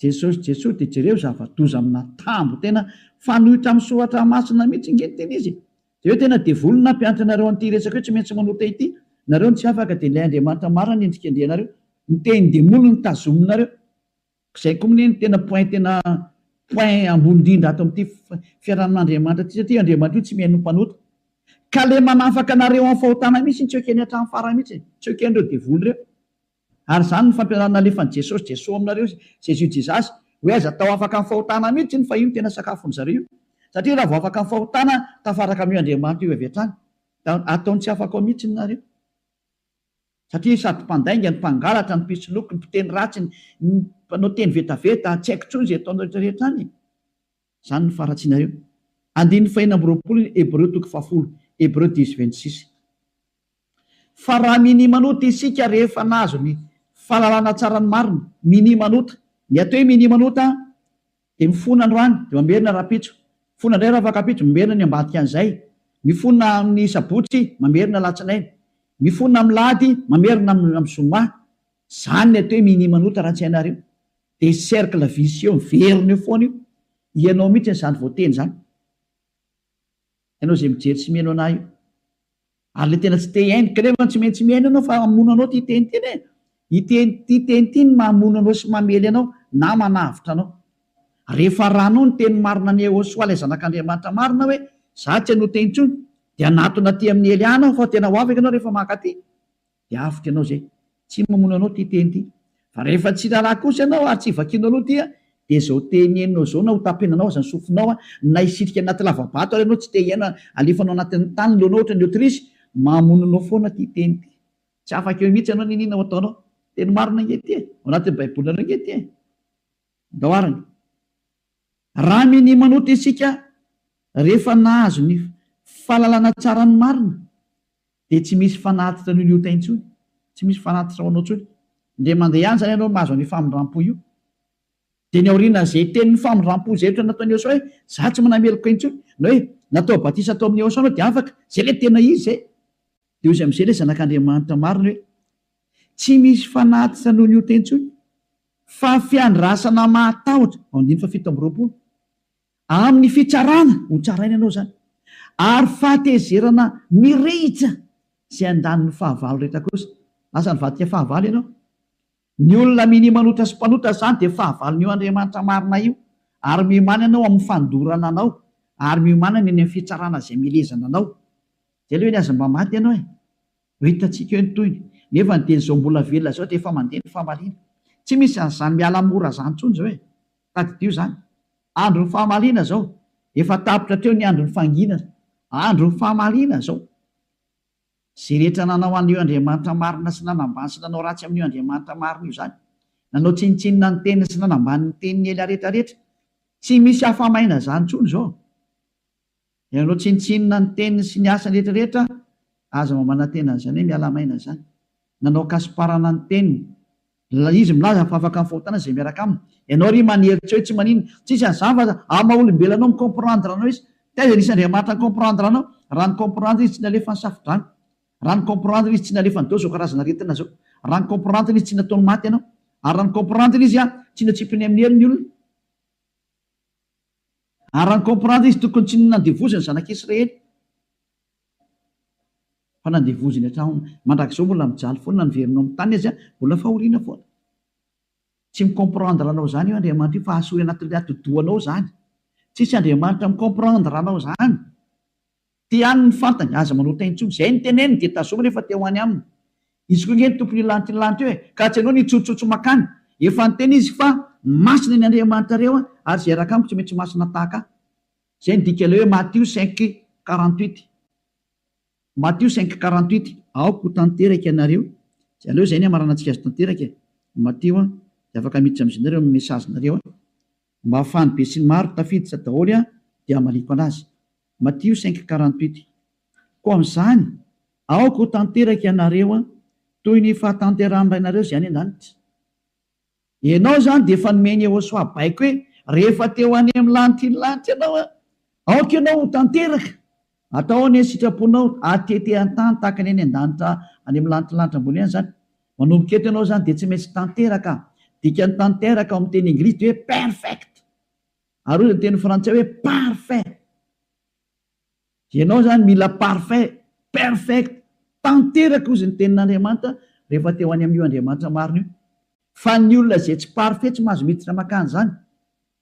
Jesosy Jesosy de jereo zavadoza amina tambo tena fanoitra am soratra masina mitsy nge ny tena izy e! de eo tena devoly nampianatra anareo anty resaka io tsy maintsy manota ity nareo no tsy afaka de ilay Andriamanitra marina no endrikendrehanareo ny tehin demoly no tazominareo zay ko mne no tena point tena point ambony indrindra ato amty fiarahamin Andriamanitra ty satria io Andriamanitra io tsy mihaino ny mpanota ka le manafaka anareo am fahotana mitsy tsy ekeny atram farany mitsy e! tsy ekenreo devoly reo. Ary izany no fampianarana nalefan'i Jesosy, Jeso aminareo, Jésus, Jesus, hoe aiza tao afaka ny fahotana mihitsy iny fa io no tena sakafon'ny zareo io. Satria raha vao afaka ny fahotana, tafaraka amin'io Andriamanitra io avy hatrany. Ataony tsy afaka ao mihitsy ny nareo. Satria sady mpandainga ny mpangalatra, ny mpisoloky, ny mpiteny ratsy, ny mpanao teny vetaveta, tsy haiko intsony izay ataonareo rehetra any e. Izany no faharatsianareo. Andininy fahenina amby roapolo ny Hebreo toko fahafolo, Hébreux dix, vingt six. Fa raha minimanota isika rehefa nahazo ny fahalalana tsara ny marina, minimanota, ny atao hoe minimanota dia mifona androany dia mamerina rahampitso, mifona indray ravakampiitso, mamerina ny ambadikan'izay, mifona amin'ny sabotsy, mamerina alatsinainy, mifona amin'ny lahady, mamerina amin'ny zoma. Izany ny atao hoe minimanota raha tsy hainareo. Dia cercle vicieux miverina eo foana io, ianao mihitsy izany voateny izany, ianao izay mijery sy mihaino anah io, ary ilay tena tsy te hihaino, ka nefa tsy maintsy mihaino ianao fa hamono anao ity teny ity e, ity ity teny ity no mahamono anao sy mamely anao na manavotra anao, rehefa arahanao ny teny marina an'i Yehosua ilay zanak'Andriamanitra marina hoe izaho tsy hanota intsony, dia hanatona aty amin'ny Hely Ana aho fa tena ho afaka ianao rehefa mankaty. dia avotra ianao izay. Tsy mamono anao ity teny ity. Fa rehefa tsy raharaha kosa ianao ary tsy vakianao aloha ity dia izao teny henonao izao na hotapenanao aza ny sofinao na hisitrika anaty lavabato ary ianao tsy te hiaina alefanao anatin'ny tany ny lohanao ohatran'ny otirisy, mamono anao foana ity teny ity. Tsy afaka eo mihitsy ianao n'inona ho ataonao. Teny marina ange ity e! Ao anatin'ny Baibolinareo ange ity e! Andao arany. Raha minia manota isika rehefa nahazo ny fahalalana tsara ny marina Dia tsy misy fanatitra an'io liotay intsony, tsy misy fanatitra ho anao intsony. Indray mandeha ihany izany ianao mahazo an'io famindram-po io. Dia ny aorianan'izay tenin'ny famindram-po izay ohatra nataon'i Eosaoa hoe, izaho tsy manana heloka intsony, na hoe, natao batisa tao amin'i Eosaoa ianao dia afaka, izay ilay tena izy izay. Dia hoy izy amin'izay ilay Zanak'Andriamanitra marina hoe, Tsy misy fanatitra noho ny ota intsony, fa fiandrasana mahatahotra, andininy fahafito amby roapolo. Amin'ny fitsarana ho tsaraina ianao izany ary fahatezerana mirehitra izay andaniny fahavalo rehetra kosa. Lasa nivadika fahavalo ianao. Ny olona minia manota sy mpanota izany dia fahavalon'io Andriamanitra marina io ary miomana ianao amin'ny fandorana anao ary miomana ny any amin'ny fitsarana izay milezana anao. Dia aleo anie aza mba maty ianao e! Ho hitantsika eo ny tohiny. Nefa ny teny izao mbola velona izao dia efa mandeha ny famaliana. Tsy misy an'izany miala mora izany intsony izao e! Tadidio izany. Andron'ny famaliana izao. Efa tapitra hatreo ny andron'ny fanginana. Andron'ny famaliana izao. Izay rehetra nanao an'io Andriamanitra marina sy nanambany sy nanao ratsy amin'io Andriamanitra marina io izany. Nanao tsinontsinona ny teniny sy nanambany ny teniny ela rehetra rehetra. Tsy misy afa-maina izany intsony izao. Ianao tsinontsinona ny teniny sy ny asany rehetra rehetra aza mamanantena an'izany hoe miala maina izany. Nanao kasiparana ny teniny. Ilay izy milaza fa afaka mifahotanana izay miaraka aminy. Ianao ry manery tsy hoe tsy manina. Tsisy an'izany fa aza amin'ny maha olombelona anao mi comprendre anao izy. Taiza nisy Andriamanitra ni comprendre anao? Raha ni comprendre izy tsy nalefa ny safodrano. Raha ni comprendre izy tsy nalefa ny deo izao karazana aretina izao. Raha ni comprendre izy tsy nataony maty ianao. Ary raha ni comprendre izy tsy natsipiny amin'ny helony olona. Ary raha ny comprendre izy tokony tsy nandevoziny zanaka Israely fa nandevoziny hatraon mandrakizao mbola mijaly foana ny veriny ao amin'ny tany aza mbola fahoriana foana. Tsy mi comprendre anao zany io Andriamanitra io fa hahasoy anatin'ny atidohanao zany. Tsisy Andriamanitra mi comprendre anao zany. Te haniny ny fantany, aza manao tain tsony, zay ny teneniny dia tazominy efa te ho any aminy izy koa nge ny tompony io lanty lanty io e, ka tsy anao ny hitsotsotsy makany, efa niteny izy fa masina ny Andriamanitrareo a, ary zay raka amiko tsy maintsy masina tahaka ahy, zay ny dika ilay hoe Matio cinq quarante huit, Matio cinq quarante huit. Aoka ho tanteraka ianareo, tsy aleo zay ny hamaranantsika azy tanteraka e, Matio a, de afaka miditra amizay nareo amin'ny message nareo a. Mba afahan'ny besinimaro tafiditra daholo aho dia hamaliako anazy. Matio cinq quarante huit. Koa amin'izany, aoka ho tanteraka ianareo toy ny fahatanterahan'ny Rainareo izay any an-danitra. Ianao izany dia efa nomeny Yehosoa baiko hoe, Rehefa te ho any amin'ny lanitra iny lanitra ianao, Aoka ianao ho tanteraka, atao anie ny sitraponao atete an-tany tahaka ny any an-danitra any amin'ny lantilanitra ambony any izany. Manomboka eto ianao izany dia tsy maintsy tanteraka. Dikan'ny tanteraka ao amin'ny teny Inglisy dia hoe perfect. Ary hoy ny teny Frantsay hoe parfait. Dia ianao izany mila parfait, perfect, tanteraka hozy ny tenin'Andriamanitra rehefa te ho any amin'io Andriamanitra marina io. Fa ny olona izay tsy parfait tsy mahazo miditra mankany izany.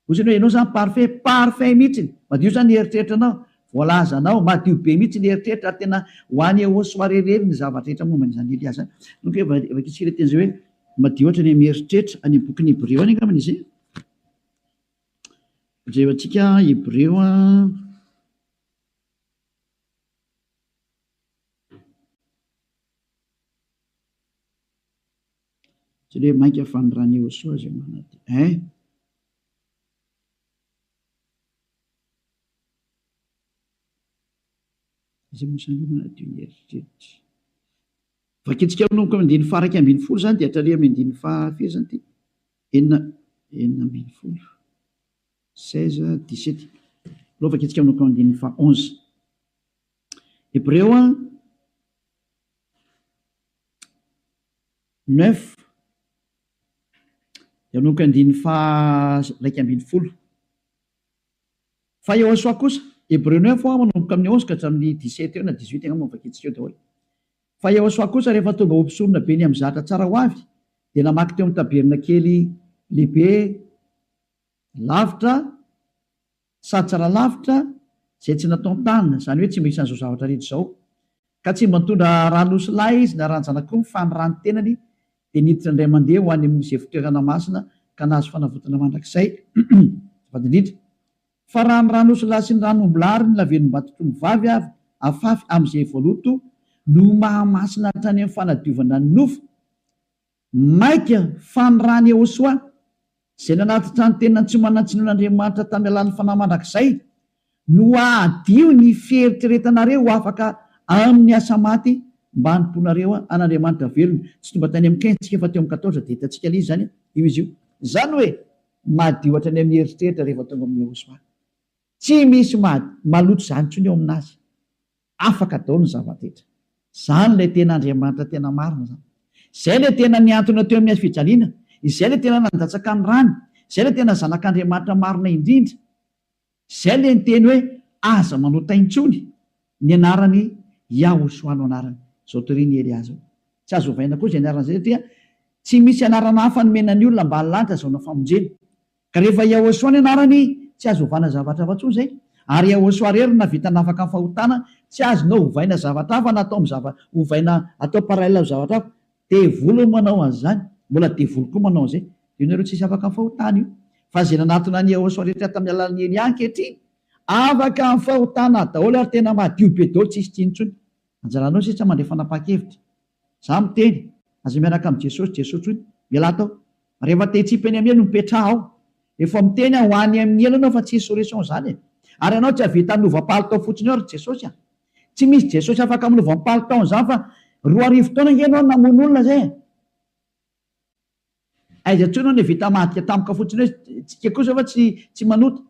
Ohatrany hoe ianao zany parfait, parfait mihitsiny, madio zany ny eritreritranao, voalazanao, madio be mihitsy ny eritreritra ary tena ho any haut soirée irery ny zavatra rehetra momba an'izany Elia zany. Inoako hoe va- vakintsika ilay teny izay hoe madio hatrany amin'ny eritreritra, any amin'ny bokin'ny Hebreo any angambany izy. Jereo antsika Hebreo a. Tsy le mainka fa ny Ranehosoa zay manadio eh! Izay moa zany manadio ny eritreritra. Vakintsika manomboka amin'ny andininy faha iraika ambin'ny folo zany dia hatraria amin'ny andininy faha firy zany ty? Enina enina ambin'ny folo. Seize, dix-sept. Alao vakintsika manomboka amin'ny andininy faha onze. Hebreo a. neuf dia manomboka andininy faha iraika ambin'ny folo fa Yehosua kosa, Hebreo neuf ho'a manomboka amin'ny onze ka hatramin'ny dix sept eo na dix huit angamba no vakintsika eo daholo, fa Yehosua kosa rehefa tonga ho mpisorona be ny amin'ny zatra tsara ho avy dia namaky teo amin'ny tabernakely lehibe lavitra Satsara lavitra izay tsy natao ny tany, izany hoe tsy mba isan'izao zavatra rehetra izao. Ka tsy mba nitondra rà nosy lahy izy na ràn-janak'omby fa ny ràn'ny tenany dia niditra indray mandeha ho any amin'ny izay fitoerana masina ka nahazo fanavotana mandrakizay. Azafady indrindra fa raha ny rà nosy lahy sy ny ràn'omby lahy ary ny lavenimbato tongovavy avy afafy amin'izay voaloto no mahamasina hatrany amin'ny fanadiovana ny nofo, Maika fa ny rà an'i Iehosoa, izay nanatitra ny tenany tsy ho manan-tsiny an'Andriamanitra tamin'ny alalan'ny fanahy mandrakizay, no hahadio ny fieritreretanareo ho afaka amin'ny asa maty mba hanompoanareo an'Andriamanitra velona. Tsy tonga tany amin'ny Qintsika fa teo amin'ny Katoldra, dia hitantsika an'iza izany io izy io. Izany hoe, madio hatrany amin'ny eritreritra rehefa tonga amin'i Iehosoa. Tsy misy maloto izany intsony eo amin'azy. Afaka daolo ny zavadetra. Zany ilay tena Andriamanitra tena marina zany. Izay ilay tena niantona teo amin'ny hazofijaliana, izay ilay tena nandatsaka ny rany, izay ilay tena zanak'Andriamanitra marina indrindra. Izay ilay niteny hoe aza manota intsony ny anarany Yahushua no anarany. Zao torin'i Elia zao. Tsy azo ovaina koa izay anarana izay satria tsy misy anarana hafa nomena ny olona ambany lanitra azahoana famonjena. Ka rehefa Yahosua ny anarany tsy azo ovana zavatra hafa tsony zay, ary Yahosua rery no nahavita nafaka ny fahotana, tsy azonao hovaina zavatra hafa na atao am zava hovaina atao parallel am zavatra hafa, devoly manao anzany, mbola devoly koa manao anzay, io nareo tsisy afaka am fahotana io, fa ze nanatona an Yahosua rehetra tam alalan Elia ankehitriny afaka am fahotana daoly ary tena madio be daoly tsisy tsiny tsony, anjaranao sisa mandray fanapahan kevitra, Za miteny, aza miaraka am Jesosy Jesosy tsoiny, ialahy tao. Rehefa te hitsipa eny am elo mipetraha ao. Efa miteny aho ho any am ny elo anao fa tsisy solution zany e. Ary anao tsy ahavita milova palitao fotsiny eo ry Jesosy a. Tsy misy Jesosy afaka milova am palitaon zany fa roa arivo taona nge enao namono olona zay e. Aiza intsony hono vita madika tampoka fotsiny hoe tsika kosa va tsy tsy manota?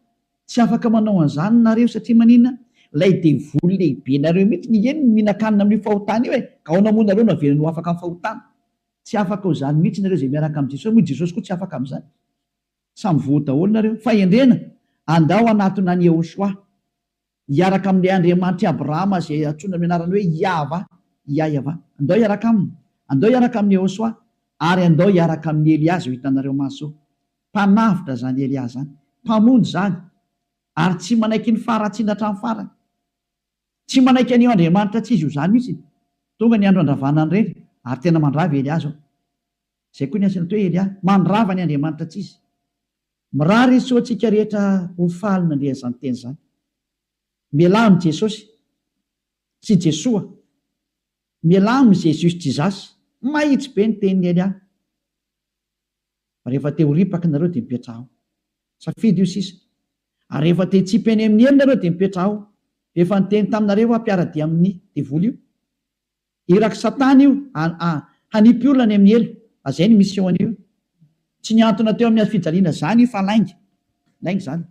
Tsy afaka manao an'izany nareo satria maninona? Ilay devoly lehibe nareo mihitsy ny eny no mihinan-kanina amin'io fahotana io e! Aona moa nareo no avelany ho afaka amin'ny fahotana? Tsy afaka ho izany mihitsy nareo izay miaraka amin'i Jesosy moa i Jesosy koa tsy afaka amin'izany. Samy voa daholo nareo. Fahendrena! Andao hanatona an'i Yehoshuah. Hiaraka amin'ilay Andriamanitr'i Abrahama izay antsoina amin'ny anarany hoe Iahvah, Iahyavah. Andao hiaraka aminy. Andao hiaraka amin'i Yehosua, ary andao hiaraka amin'i Elia izao hitanareo maso. Mpanavotra izany Elia izany. Mpamonjy izany. Ary tsy manaiky ny faharatsiana hatramin'ny farany. Tsy manaiky an'io Andriamanitra tsy izy io izany mihitsy. Tonga ny andro handravana an'ireny, ary tena mandrava i Elia izao. Izay koa ny antsy natao hoe Elia, mandrava ny Andriamanitra tsy izy. Mirary izy tsy ho antsika rehetra ho faly nandre an'izany teny izany. Mialà amin'i Jesosy, tsy Jesoa. Mialà amin'i Jesus Jesus. Mahitsy be ny tenin'i Elia. Rehefa te ho ripaka nareo dia mipetraha ao. Safidy io sisa. Ary rehefa te hitsipy eny amin'ny elo nareo dia mipetraha ao. Rehefa niteny taminareo aho mpiara-dia amin'ny devoly io. Irak'i Satana io a hanipy olona any amin'ny helo a zay ny mission-ny io. Tsy nihantona teo amin'ny hazofijaliana zany io fa lainga. Lainga zany.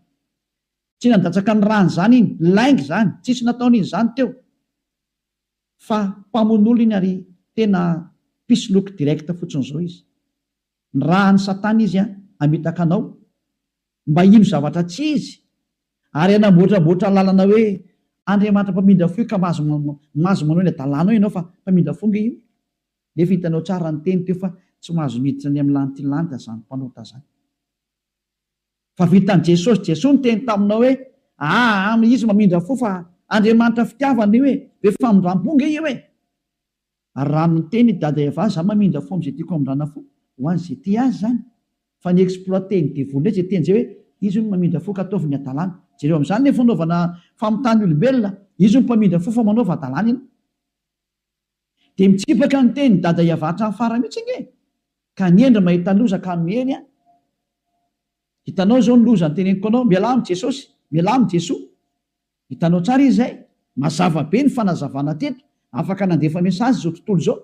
Tsy nandatsaka ny rany zany iny. Lainga zany. Tsisy nataony iny zany teo. Fa mpamono olona iny ary tena mpisoloky direct fotsiny zao izy. Ny raha any satana izy hamitaka anao mba hino zavatra tsy izy ary hanamboatramboatra lalana hoe Andriamanitra mpamindra fo io ka mahazo mahazo manao ny hadalanao ianao fa mpamindra fo nge io nefa hitanao tsara ny teny teo fa tsy mahazo miditra any amin'ny lantilanita zany mpanota zany fa vitan'i Jesosy Jesoa niteny taminao hoe aa izy mamindra fo fa Andriamanitra fitiavana io e be famindrampo nge io e Ary raha miteny i Dada Eva za mamindra fo amzay tiako amindrana fo ho an ze tia azy zany fa ny exploiter ny devoly ndray ze teny zay hoe izy hono mamindra fo ka ataovy ny adalana jereo amzany le fanaovana famitany olombelona izy hono mpamindra fo fa manaova adalana ianao de mitsipaka ny teny Dada Eva hatram fara mitsy ange ka ny hendry mahita loza ka miely an hitanao zao ny loza ny teneniko anao mialà am jesosy mialà am jesoa Hitanao tsara izy izay? Mazava be ny fanazavana teto. Afaka nandefa message izao tontolo izao.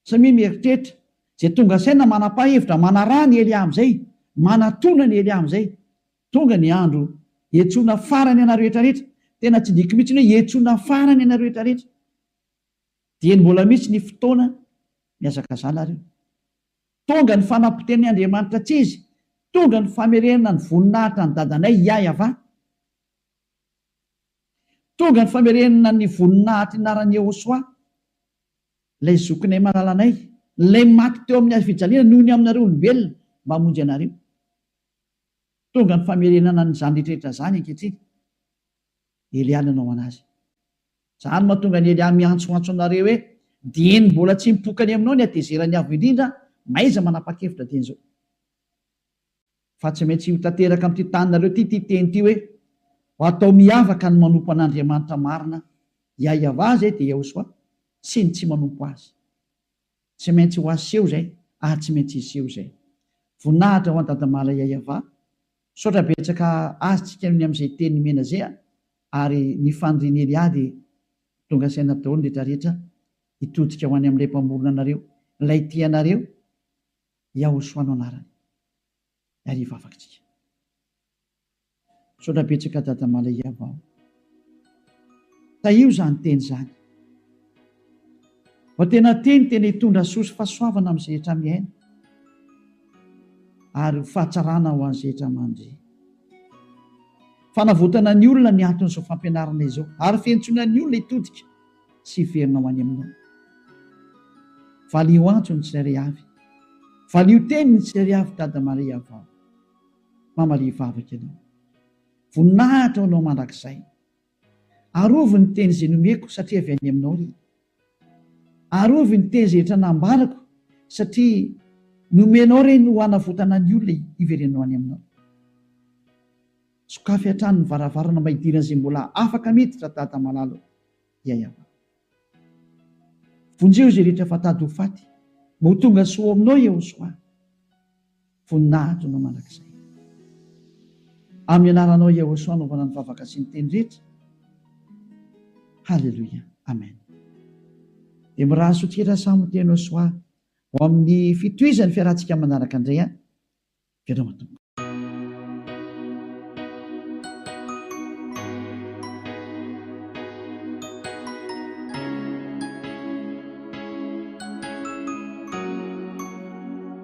Samia mieritreritra. Izay tonga saina manapa hevitra, manaraha ny Elia amin'izay. Manatona ny Elia amin'izay. Tonga ny andro hiantsoana farany anareo rehetra rehetra. Tena tsy diko mihitsy ny hoe hiantsoana farany anareo rehetra rehetra. Dieny mbola misy ny fotoana mihazakazana ary io. Tonga ny fanapoteni Andriamanitra tsy izy, tonga ny famerena ny voninahitra an'i Dadanay Yahva, tonga ny famerena ny voninahitry ny anaran'i Yehosua, ilay zokinay malalanay, ilay maty teo amin'ny hazo fijaliana noho ny aminareo olombelona mba hamonjy anareo. Tonga ny famerenana an'izany rehetra izany ankehitriny. Elià nanao an'azy. Izany mahatonga an'i Elià miantsoantso anareo hoe, Dieny mbola tsy mipoka any aminao ny hatezeran'ny Avo Indrindra, mahaiza manapa-kevitra dieny izao. Fa tsy maintsy ho tanteraka amin'ity taninareo ity ity teny ity hoe, Ho atao miavaka ny manompo an'Andriamanitra marina, Iaiavà izay dia Iehosoà, sy ny tsy manompo azy. Tsy maintsy ho aseho izay, ary tsy maintsy hiseho izay. Voninahitra ho an'i Dadamala Iaiavà, Misaotra betsaka azy tsika ny amzay teny nomena zay a! ary ny fanirian'i Elia de tonga saina daolo ny retra retra hitodika ho any amlay mpamorona anareo lay tia anareo Yahoshua no anarany ary hivavaka tsika. Misaotra betsaka dada Malay Yavao. Tahio izany teny izany fa tena teny tena hitondra soa sy fahasoavana amin'ny izay rehetra miaina ary ho fahatsarana ho an'ny izay rehetra mandre. Fanavotana ny olona ny anton'izao fampianarana izao ary fiantsoana ny olona hitodika sy hiverina ho any aminao. Valio antso ny tsirairay avy. Valio teny ny tsirairay avy Dada Maria vao mamalia vavaka ianao. Voninahitra ho Anao mandrakizay. Arovy ny teny izay nomeko satria avy any Aminao ry. Arovy ny teny izay efa nambarako satria nomenao ireny ho hanavotana ny olona hiverenanao any Aminao. Sokafy hatrany ny varavarana mba hidiran'izay mbola afaka miditra Dada malala o. Ya Yavah. Vonjeo izay rehetra efa tady ho faty mba ho tonga soa ao Aminao Yehosoa. Voninahitro Anao mandrakizay. Amin'ny anaranao Yahosua anaovana ny vavaka sy ny teny rehetra. Haleloia. Amen. Dia miraha soa tira Samo teny Yahosua ho amin'ny fitohizan'ny fiarahantsika manaraka indray an. Veloma Tompo.